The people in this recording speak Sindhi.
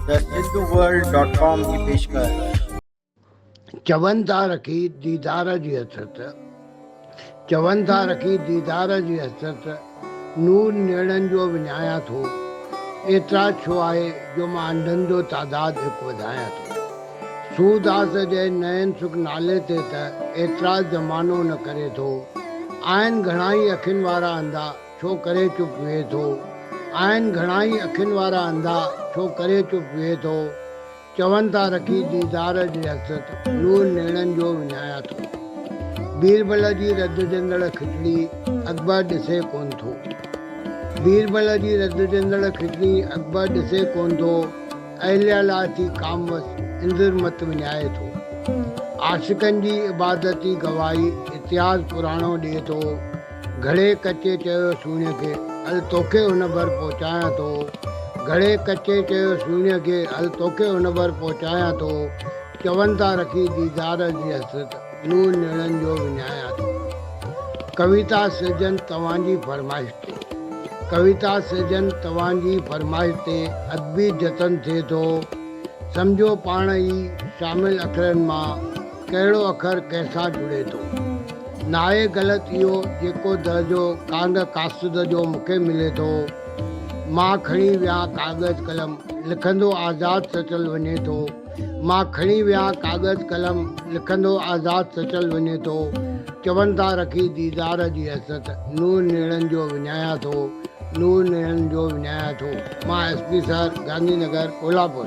ته سنڌو ورلڊ ڊاٽ ڪام جي پيشڪش. چون ٿا رکي ديدار جي حسرت چون ٿا رکي ديدار جي حسرت نور نيڻن جو وڃايان ٿو اعتراض ڇو آهي جو مان انڌن جو تعداد هڪ وڌايان ٿو سورداس جي نئن سک نالي تي ته اعتراض زمانو نه ڪري ٿو آهن گهڻائي اکين وارا انڌا ڇو ڪري چپ ويهي ٿو. آهن گهڻائي اکين وارا انڌا ڇو ڪري چپ ويهي ٿو. چون ٿا رکي ديدار جي حسرت نور نيڻن جو وڃايان ٿو. بيربل جي رڌجندڙ کچڙي اڪبر ڏسي ڪونه ٿو. بيربل جي رڌجندڙ کچڙي اڪبر ڏسي ڪونه ٿو. اهليا لاء ٿي ڪاموس اندر مت وڃائي ٿو. عاشقن جي عبادتي گواهي اتهاس پراڻو ڏئي ٿو. گهڙي ڪچي چيو سهڻي کي، هل توکي هن ڀر پهچايان ٿو. گهڙي ڪچي چيو سهڻي کي، هل توکي هن ڀر پهچايان ٿو. چون ٿا رکي ديدار جي حسرت، نونهن نيڻن جو وڃايان ٿو. ڪويتا سرجن توهان جي فرمائش تي. ڪويتا سرجن توهان جي فرمائش تي ادبي جتن ٿئي ٿو. سمجهو پاڻ ئي شامل اکرن مان. ڪهڙو اکر ڪنهن سان جڙي ٿو. ناهي غلط اهو جيڪو درجو ڪانگ ڪاسد جو مون کي ملي ٿو. مان کڻي ويهان ڪاغذ قلم، لکندو آزاد سچل وڃي ٿو. مان کڻي ويهان ڪاغذ قلم، لکندو آزاد سچل وڃي ٿو. چون ٿا رکي ديدار جي حسرت، نور نيڻن جو وڃايان ٿو، نور نيڻن جو وڃايان ٿو. مان S P sir, Gandhi Nagar, Kolhapur.